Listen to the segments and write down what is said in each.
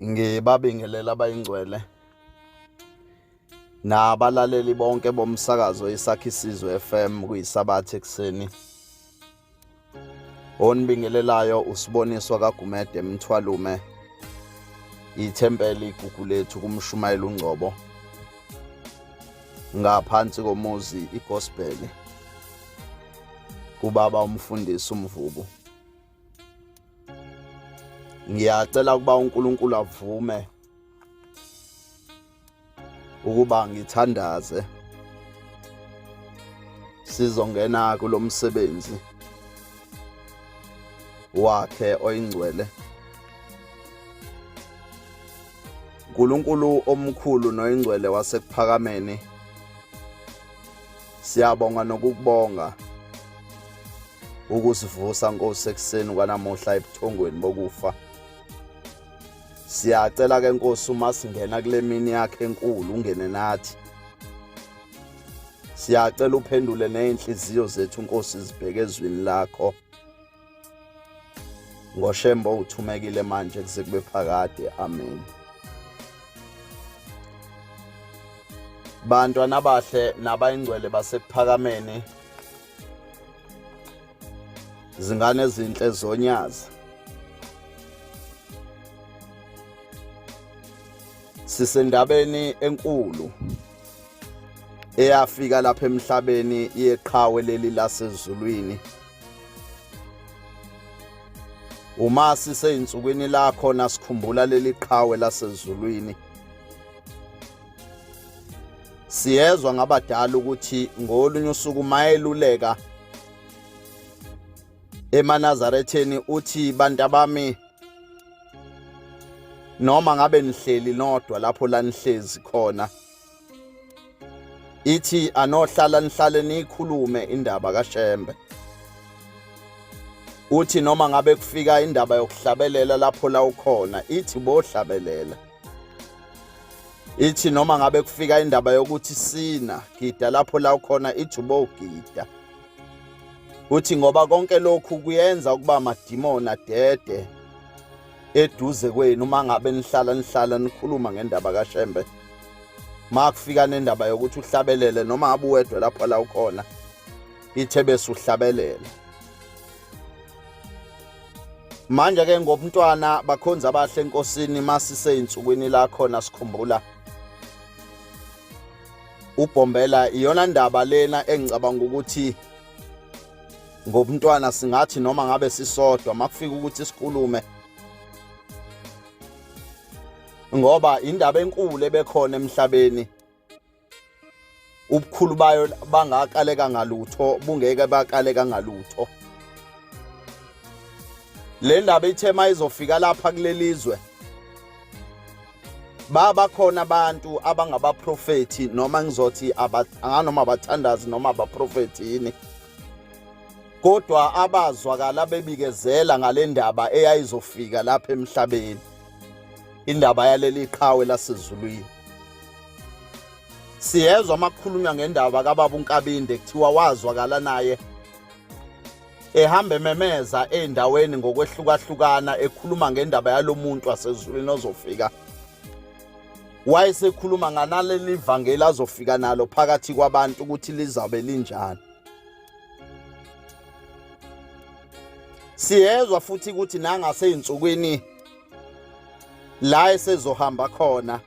ngibabingelela abayingcwele nabalaleli bonke bomsakazo isakhi isizwe FM kuyisabatha ekuseni onibingelelayo usiboniswa kagumede mthwalume ithempeli igugu lethu kumshumayela ungcobo ngaphansi komuzi igospel kubaba umfundisi umvubu ngiyacela ukuba uNkulunkulu avume ukuba ngithandaze sizongena kulomsebenzi wakhe oyingcwele uNkulunkulu omkhulu noyingcwele wasekuphakameni Siyabonga nokukubonga ukusivusa Nkosi ekuseni kwanamuhla ebuthongweni bokufa. Siyacela ke Nkosi uma singena kule mini yakhe enkulu ungene nathi. Siyacela uphendule nezinhliziyo zethu Nkosi zibheke ezwini lakho. ngoshembo uthumekile manje kuze kube phakade amen bantwana abahle nabayingcwele basekuphakameni zingane ezinhle zonyazi sisendabeni enkulu eyafika lapha emhlabeni yeqhawe leli lasezulwini Uma siseyinsukwini lakho nasikhumbula leli qhawe lasezulwini. Siyezwa ngabadala ukuthi ngolunye usuku mayeluleka emanazaretheni uthi bantu abami noma ngabe nihleli nodwa lapho lanihlezi khona ithi anohlala nihlale niyikhulume indaba kaShembe uthi noma ngabe kufika indaba yokuhlabelela lapho la ukhona ithi bohlabelela ithi noma ngabe kufika indaba yokuthi sina gida lapho la ukhona ithi ubogida uthi ngoba konke lokhu kuyenza ukuba amadimoni adede eduze kwenu uma ngabe nihlala nihlala nikhuluma ngendaba kashembe ma kufika nendaba yokuthi uhlabelele noma abe uwedwa lapho la ukhona ithe bese uhlabelela manje ke ngobumntwana bakhonza abahle enkosini masiseyinsukwini la khona sikhumbula ubhombela iyona ndaba lena engicabanga ukuthi ngobumntwana singathi noma ngabe sisodwa makufika ukuthi sikhulume ngoba indaba enkulu ebekhona emhlabeni ubukhulu bayo bangakaleka ngalutho bungeke bakaleka ngalutho le ndaba ithema izofika lapha kulelizwe baba khona abantu abangabaprofethi noma ngizothi anganoma abathandazi noma abaprofethi yini kodwa abazwakala bebikezela ngale ndaba eyayizofika lapha emhlabeni indaba yaleli qhawe lasezulwini siyezwa amakhulunywa ngendaba kababa uNkabinde kuthiwa wazwakala naye ehamba ememeza ezindaweni ngokwehlukahlukana ekhuluma ngendaba yalomuntu wasezulwini ozofika wayesekhuluma nganaleli vangeli azofika nalo phakathi kwabantu ukuthi lizabe linjani siyezwa futhi ukuthi nangaseyinsukwini la esezohamba khona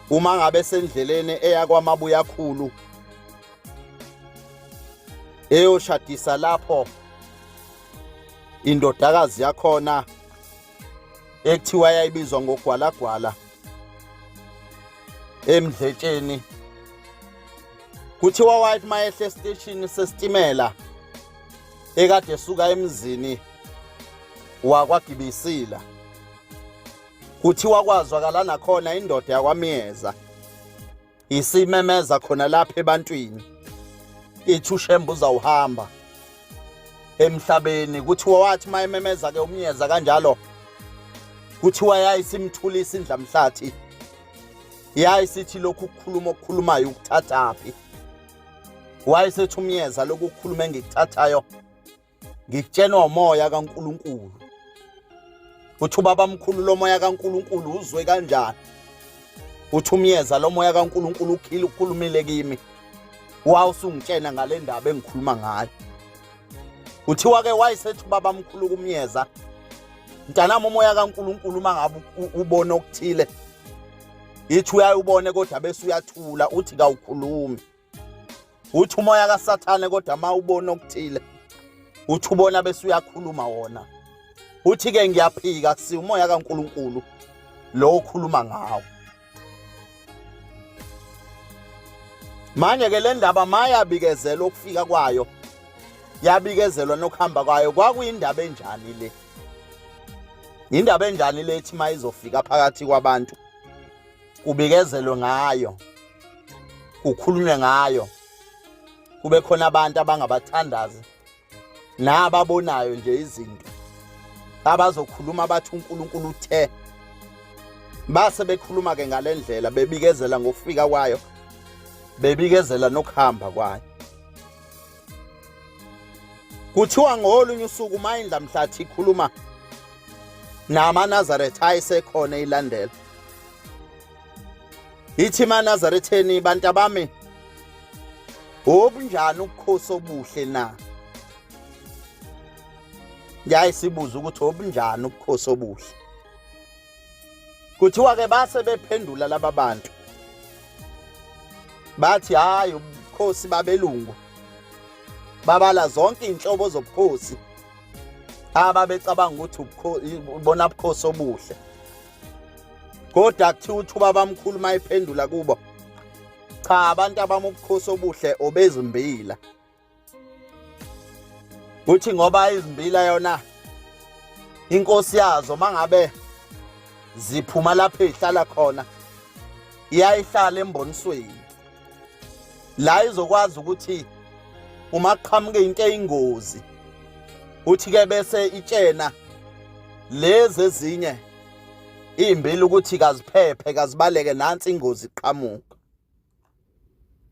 uma ngabe sendleleni eya kwamabuyakhulu eyoshadisa lapho indodakazi yakhona ekuthiwa yayibizwa ngogwalagwala emdletsheni kuthiwa wathi mayehle esiteshini sesitimela ekade suka emzini wakwagibisila kuthiwa kwazwakala nakhona indoda yakwamyeza isimemeza khona lapha ebantwini ithi ushembe uzawuhamba emhlabeni kuthiwa wathi uma ememeza ke umyeza kanjalo kuthiwa yayisimthulisa indlamhlathi yayisithi lokhu ukukhuluma okukhulumayo ukuthathaphi wayesethi umyeza lokhu ukukhuluma engikuthathayo ngikutshenwa umoya kaNkuluNkulu uthi ubaba mkhulu lomoya kaNkuluNkulu uzwe kanjani uthi umyeza lomoya kaNkuluNkulu ukhile ukhulumile kimi wawusungitshena ngale ndaba engikhuluma ngayo uthiwa ke wayesethi ubaba mkhulu kumyeza mntanami umoya kaNkuluNkulu uma ngabe ubona okuthile yithi uyayubone kodwa bese uyathula uthi kawukhulumi uthi umoya kasathane kodwa ma ubona okuthile uthi ubona bese uyakhuluma wona uthi ke ngiyaphika kusi umoya kaNkuluNkulu lo okhuluma ngawo manje ke le ndaba mayabikezela ukufika kwayo yabikezelwa nokuhamba kwayo kwakuyindaba enjani le indaba enjani le ethi mayizofika phakathi kwabantu kubikezelwe ngayo kukhulunywe ngayo kube khona abantu abangabathandazi nababonayo nje izinto abazokhuluma bathi uNkulunkulu uthe base bekhuluma ke ngalendlela bebikezela ngokufika kwayo bebikezela nokuhamba kwayo kuthiwa ngolunye usuku uma indla mhlathi ikhuluma namanazaretha ayesekhona ilandela ithi manazaretheni bantu abami obunjani ukukhosi obuhle na ngiyaye sibuze ukuthi obunjani ubukhosi obuhle kuthiwa ke base bephendula laba bantu bathi hayi ubukhosi babelungu babala zonke inhlobo zobukhosi ababecabanga ukuthi ubona ubukhosi obuhle kodwa kuthiwa uthuba bamkhulu mayiphendula kubo cha abantu abamubukhosi obuhle obezimbila kuthi ngoba izimbila yona inkosi yazo mangabe ziphuma lapho ezihlala khona iyayihlala embonisweni la izokwazi ukuthi uma qhamuke into eyingozi uthi ke bese itshena lezi ezinye imbili ukuthi kaziphephe kazibaleke nansi ingozi iqhamuka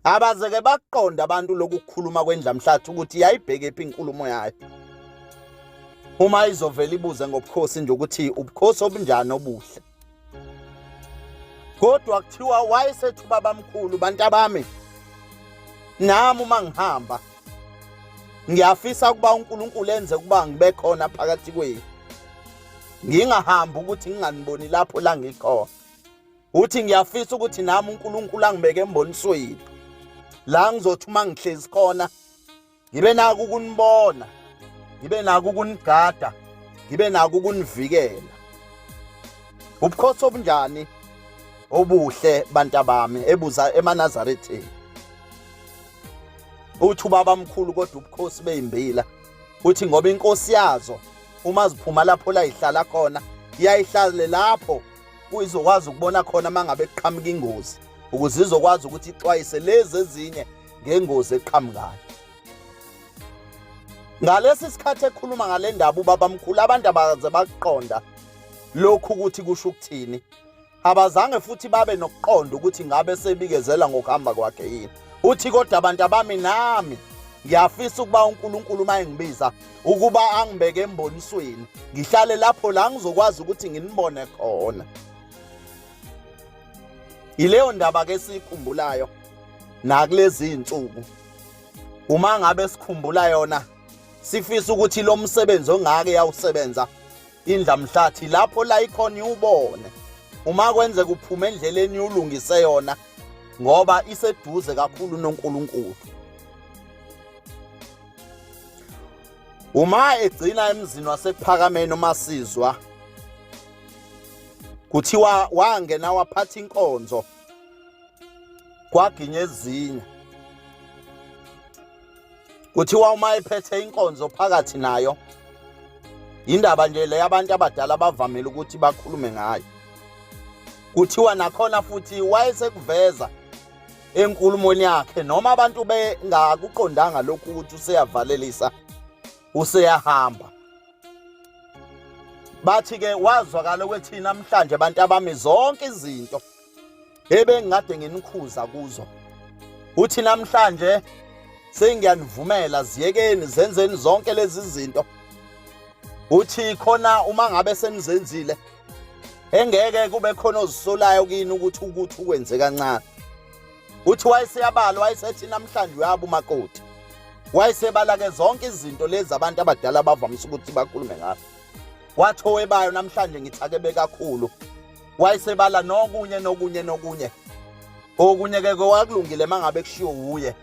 abazeke bakuqonda abantu lokukhuluma kwendlamhlathi ukuthi yayibheke phi inkulumo yayo uma izovela ibuze ngobukhosi nje ukuthi ubukhosi obunjani obuhle kodwa kuthiwa wayesethi ubabamkhulu bantu abami nami uma ngihamba ngiyafisa ukuba uNkulunkulu enze ukuba ngibe khona phakathi kwenu ngingahambi ukuthi nginganiboni lapho la ngikhona uthi ngiyafisa ukuthi nami uNkulunkulu angibeke embonisweni la ngizothi uma ngihlezi khona ngibe nako ukunibona ngibe nako ukunigada ngibe nako ukunivikela ubukhosi obunjani obuhle bantabami ebuza emanazaretheni uthi ubaba mkhulu kodwa ubukhosi beyimbila uthi ngoba inkosi yazo uma ziphuma lapho la ihlala khona iyayihlale lapho kuyizokwazi ukubona khona uma ngabe kuqhamuka ingozi ukuze izokwazi ukuthi ixwayise lezi ezinye ngengozi eqhamukayo ngalesi sikhathi ekhuluma ngale ndaba ubabamkhulu abantu abaze bakuqonda lokhu ukuthi kusho ukuthini abazange futhi babe nokuqonda ukuthi ngabe sebikezela ngokuhamba kwakhe yini uthi kodwa abantu abami nami ngiyafisa ukuba uNkulunkulu uma engibiza ukuba angibeke embonisweni ngihlale lapho la ngizokwazi ukuthi nginibone khona yileyo ndaba ke sikhumbulayo nakulezi insuku uma ngabe sikhumbula yona sifisa ukuthi lo msebenzi ongake yawusebenza indla mhlathi lapho la ikhona iwubone uma kwenze kuphume endleleni ulungise yona ngoba iseduze kakhulu noNkulunkulu uma egcina emzini wasephakameni umasizwa kuthiwa wangena waphatha inkonzo kwaginya ezinye kuthiwa uma ephethe inkonzo phakathi nayo indaba nje le abantu abadala bavamile ukuthi bakhulume ngayo kuthiwa nakhona futhi wayesekuveza enkulumweni yakhe noma abantu bengakuqondanga lokhu ukuthi useyavalelisa useyahamba bathi ke wazwakala ukuthi namhlanje abantu abami zonke izinto ebengikade nginikhuza kuzo uthi namhlanje sengiyanivumela ziyekeni zenzeni zonke lezi zinto uthi khona uma ngabe senizenzile engeke kube khona ozisolayo kini ukuthi ukuthi ukwenze kancane uthi wayeseyabala wayesethi namhlanje uyaba umakoti wayesebalake zonke izinto lezi abantu abadala bavamise ukuthi bakhulume ngazo wathi owebayo namhlanje ngithakebe kakhulu wayesebala nokunye nokunye nokunye okunye ke kwakulungile mangabe kushiwo wuye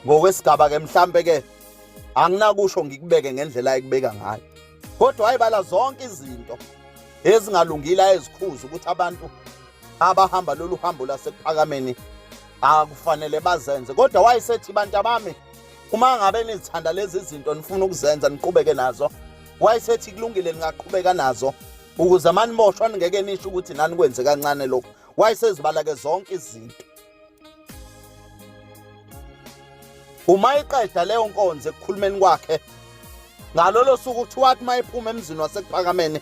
ngokwesigaba ke mhlambe ke anginakusho ngikubeke ngendlela ayikubeka ngayo kodwa wayebala zonke izinto ezingalungile ayezikhuza ukuthi abantu abahamba lolu hambo lasekuphakameni akufanele bazenze kodwa wayesethi bantu abami uma ngabe nizithanda lezi zinto nifuna ukuzenza niqhubeke nazo wayesethi kulungile ningaqhubeka nazo ukuze manimoshwa ningeke nisho ukuthi nani kwenze kancane lokho wayesezibala-ke zonke izinto uma eqeda leyo nkonzo ekukhulumeni kwakhe ngalolo suku kuthiwa athi uma ephuma emzini wasekuphakameni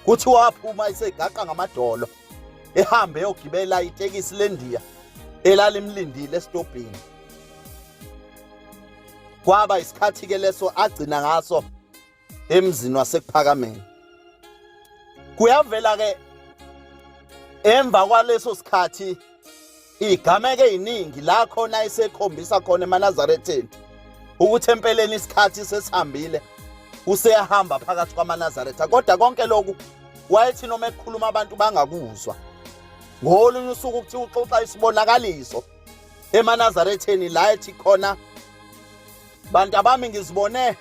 kuthiwa waphuma isegaqa ngamadolo ehambe eyogibela itekisi lendiya elalimlindile esitobhini kwaba isikhathi-ke leso agcina ngaso emzini wasekuphakameni kuyavela ke emva kwaleso sikhathi igameke eziningi la khona isekhombisa khona emanazaretheni ukuthi empeleni isikhathi sesihambile useyahamba phakathi kwamanazaretha kodwa konke lokhu wayethi noma ekhuluma abantu bangakuzwa ngolunye usuku ukuthi uxoxa isibonakaliso emanazaretheni la ethi khona bantu abami ngizibone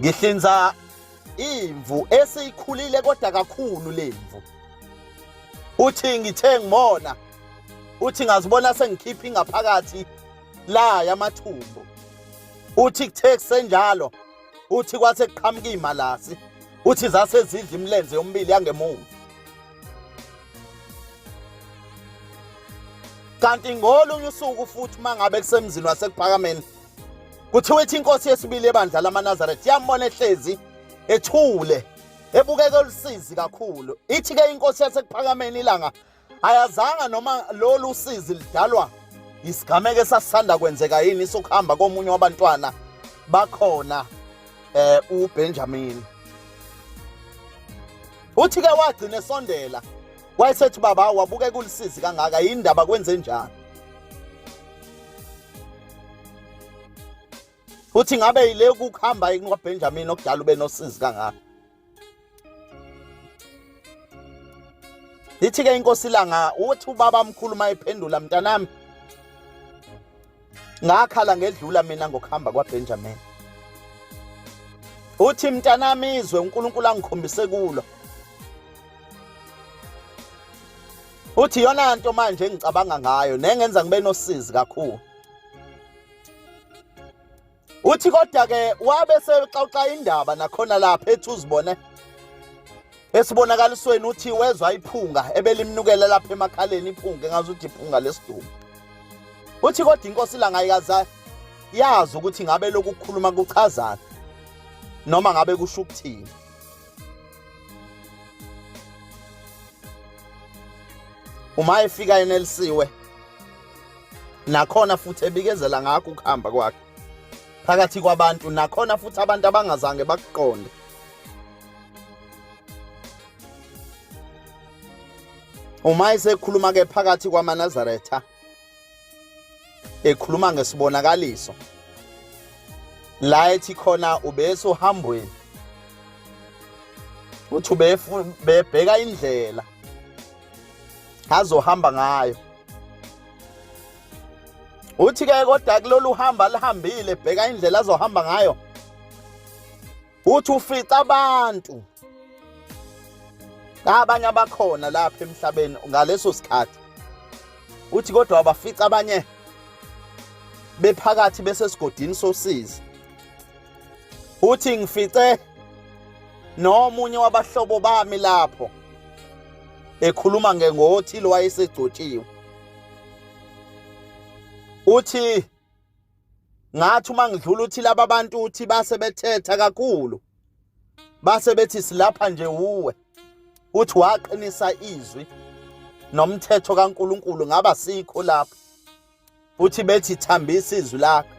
ngihlinza imvu esiyikhulile kodwa kakhulu lemvu uthi ngithe ngimona uthi ngazibona sengikhipha ingaphakathi la yamathumbu uthi kuthe kusenjalo uthi kwase kuqhamuka imalasi uthi zase zidla imilenze yomibili yangemuva kanti ngolunye usuku futhi uma ngabe kusemzini wasekuphakameni kuthiwa ithi inkosi yesibili ebandla lamanazaretha yambona ehlezi ethule ebukeka olusizi kakhulu ithi-ke inkosi yasekuphakameni ilanga ayazanga noma lolu sizi lidalwa yisigameko esasisanda kwenzeka yini isokuhamba komunye wabantwana bakhona um eh, ubenjamini uthi ke wagcina esondela wayesethi baba wabuke kulisizi kangaka yini ndaba kwenze njani uthi ngabe yile ukuhamba yini kwaBenjamin okudala ube nosizi kangaka Lithi ke inkosi langa uthi ubaba mkhulu mayiphendula mntanami ngakhala ngedlula mina ngokuhamba kwaBenjamin uthi mntanami izwe uNkulunkulu angikhombise kulo uthi yona nto manje engicabanga ngayo nengenza ngibe nosizi kakhulu uthi kodwa ke wabe sexoxa indaba nakhona lapha ethi uzibone esibonakalisweni uthi wezwa iphunga ebelimnukela lapha emakhaleni iphunga engazi ukuthi iphunga lesidumbu uthi kodwa inkosi langayikaza yazi ukuthi ngabe lokukhuluma kuchazana noma ngabe kusho ukuthini uma efika enelisiwe nakhona futhi ebikezela ngakho ukuhamba kwakhe phakathi kwabantu nakhona futhi abantu abangazange bakuqonde uma esekhuluma ke phakathi kwamanazaretha ekhuluma ngesibonakaliso la ethi khona ubese uhambweni uthi ubebheka indlela azohamba ngayo uthi ke kodwa kulolu hamba lihambile bheka indlela azohamba ngayo uthi ufica abantu abanye abakhona lapha emhlabeni ngaleso sikhathi uthi kodwa abafica abanye bephakathi besesigodini sosizi uthi ngifice nomunye wabahlobo bami lapho ekhuluma ngengothile wayesegcotshiwe uthi ngathi uma ngidlula uthi laba bantu uthi base bethetha kakhulu base bethi silapha nje uwe uthi waqinisa izwi nomthetho kaNkuluNkulu ngaba sikho lapho uthi bethi thambisa izwi lakhe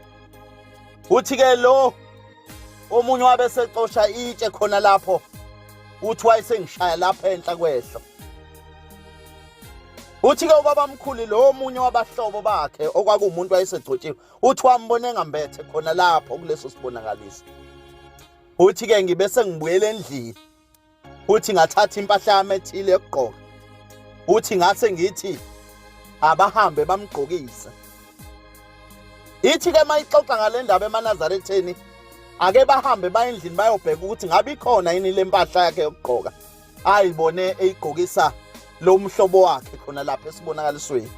uthi ke lo omunye wabe esecosha itshe khona lapho uthi wayesengishaya lapha enhla kwehlo uthi-ke ubabamkhulu lo omunye wabahlobo bakhe okwakuwumuntu wayesegcotshiwe uthi wambona engambethe khona lapho kuleso sibonakaliso uthi-ke ngibe sengibuyela endlini uthi ngathatha impahla yami ethile yokugqoka uthi ngase ngithi abahambe bamgqokise ithi ke mayixoxa ngale ndaba emanazaretheni ake bahambe baye endlini bayobheka ukuthi ngabe ikhona yini le mpahla yakhe yokugqoka ayibone eyigqokisa lo mhlobo wakhe khona lapha esibonakalisweni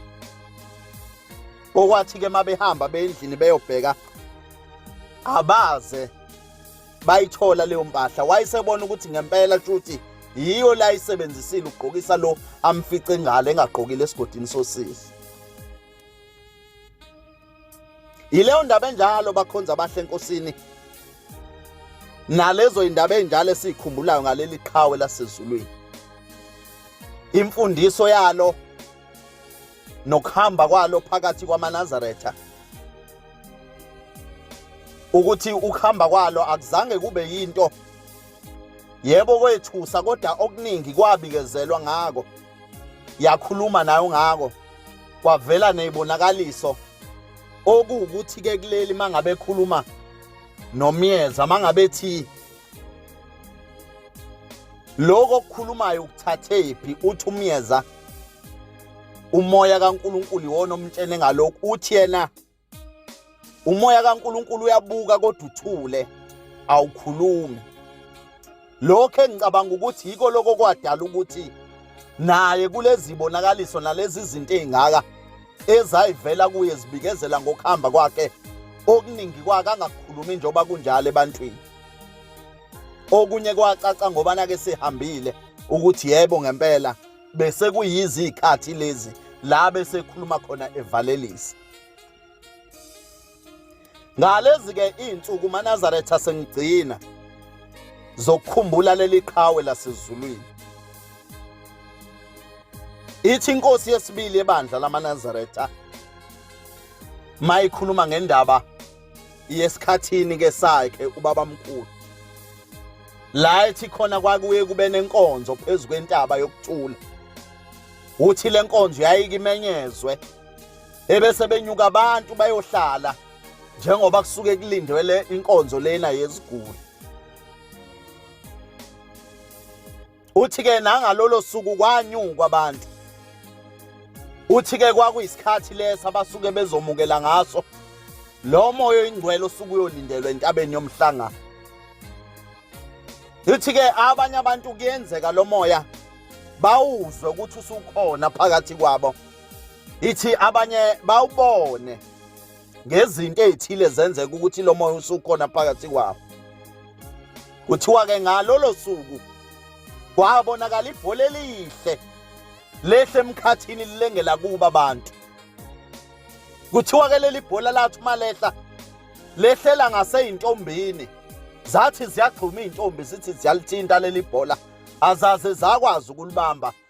okwathi-ke uma behamba beyendlini beyobheka abaze bayithola leyo mpahla wayesebona ukuthi ngempela shuthi yiyo la isebenzisile ukugqokisa lo amfice ngalo engagqokile esigodini sosisi yileyo ndaba enjalo bakhonza abahle enkosini nalezo indaba enjalo esiyikhumbulayo ngaleli qhawe lasezulwini imfundiso yalo nokuhamba kwalo phakathi kwamanazaretha ukuthi ukuhamba kwalo akuzange kube yinto yebo kwethusa kodwa okuningi kwabikezelwa ngako yakhuluma nayo ngako kwavela nezibonakaliso okuwukuthi ke kuleli mangabe ekhuluma nomyeza mangabe ethi lokho okukhulumayo ukuthathephi uthi umyeza umoya kaNkuluNkulu iwona omtshene ngalokhu uthi yena umoya kaNkuluNkulu uyabuka kodwa uthule awukhulumi lokho engicabanga ukuthi yiko lokho kwadala ukuthi naye kulezi bonakaliso nalezi zinto ezingaka ezayivela kuye zibikezela ngokuhamba kwakhe okuningi kwake angakukhulumi njengoba kunjalo ebantwini okunye kwacaca ngobana ke sihambile ukuthi yebo ngempela bese kuyizikhathi lezi la bese khuluma khona evalelisa ngalezi ke izinsuku manazaretha sengigcina zokukhumbula leli qhawe lasezulwini ithi inkosi yesibili ebandla lamanazaretha mayikhuluma ngendaba yesikhathini ke sakhe ubabamkhulu la ethi khona kwakuye kube nenkonzo phezu kwentaba yokucula uthi le nkonzo yayikimenyezwe ebese benyuka abantu bayohlala njengoba kusuke kulindwe le inkonzo lena yeziguli uthi-ke nangalolo suku kwanyungwa abantu uthi-ke kwakuyisikhathi leso abasuke bezomukela ngaso lo moya oyingcwele osuke uyolindelwa entabeni yomhlangano uthi-ke abanye abantu kuyenzeka lo moya bawuzwe ukuthi usukhona phakathi kwabo ithi abanye bawubone ngezinto ezithile zenzeka ukuthi lo moya usukhona phakathi kwabo kuthiwa-ke ngalolo suku kwabonakala ibhola elihle lehle emkhathini lilengela kuba abantu kuthiwa-ke leli bhola lathi uma lehla lehlela ngaseyintombini zathi ziyagxuma iy'ntombi zithi ziyalithinta leli bhola azaze zakwazi ukulibamba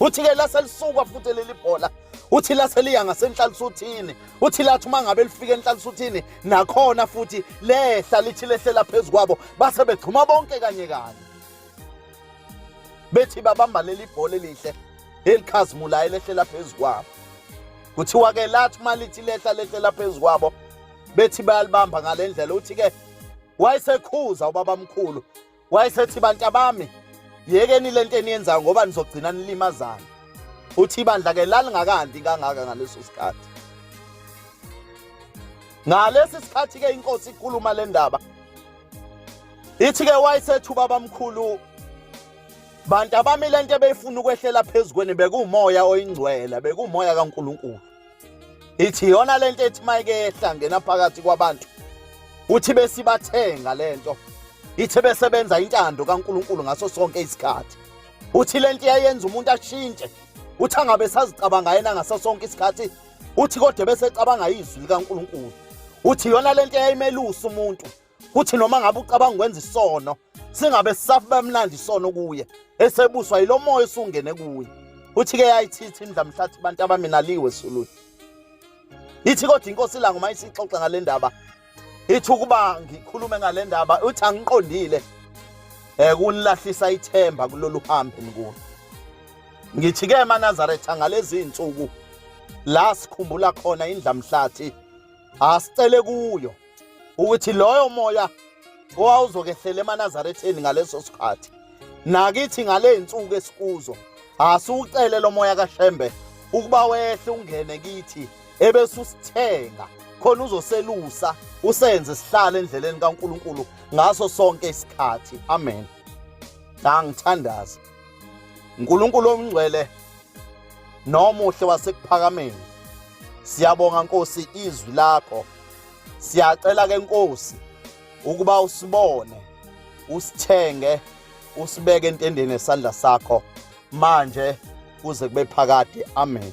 uthi ke lase lisuka futhi leli bhola uthi lase liya ngasenhlalisuthini uthi lathi uma ngabe lifika enhlalisuthini nakhona futhi lehla lithi lehlela phezu kwabo base begxuma bonke kanye kanye bethi babamba leli bhola elihle elikhazimulayo elehlela phezu kwabo kuthiwa ke lathi uma lithi lehla lehlela phezu kwabo bethi bayalibamba ngale ndlela uthi ke wayesekhuza ubabamkhulu wayesethi bantu abami yekeni le nto eniyenzayo ngoba nizogcina nilimazana uthi ibandla ke lalingakandi kangaka ngaleso sikhathi ngalesi sikhathi ke inkosi ikhuluma le ndaba ithi ke wayesethi ubaba mkhulu bantu abami le nto ebeyifuna ukwehlela phezu kweni bekuwumoya oyingcwele bekuwumoya kaNkulunkulu ithi yona lento ethi mayikehla ngena phakathi kwabantu uthi besibathenga lento ithe besebenza intando kaNkuluNkulu ngaso sonke isikhathi uthi lento yayenza umuntu ashintshe uthi angabe sazicabanga yena ngaso sonke isikhathi uthi kodwa bese ecabanga izwi likaNkuluNkulu uthi yona lento yayimelusa umuntu kuthi noma ngabe ucabanga ukwenza isono singabe sisafu bamlanda isono kuye esebuswa yilo moya esungene kuye uthi ke yayithithi imdlamhlathi abantu abaminaliwe sululu ithi kodwa inkosi ilanga uma isixoxa ngale ndaba ithi ukuba ngikhulume ngale ndaba uthi angiqondile um kunilahlisa ithemba kulolu hambe nikulo ngithi ke emanazaretha ngalezi nsuku la sikhumbula khona indlamhlathi asicele kuyo ukuthi loyo moya owawuzokehlela emanazaretheni ngaleso sikhathi nakithi ngale nsuku esikuzo asiwucele lo moya kashembe ukuba wehle ungene kithi ebese usithenga khona uzoselusa usenze sihlale endleleni kaNkuluNkulu ngaso sonke isikhathi amen angithandaza Nkulunkulu omngcwele nomuhle wasekuphakameni siyabonga Nkosi izwi lakho siyacela ke Nkosi ukuba usibone usithenge usibeke entendeni esandla sakho manje kuze kube phakade amen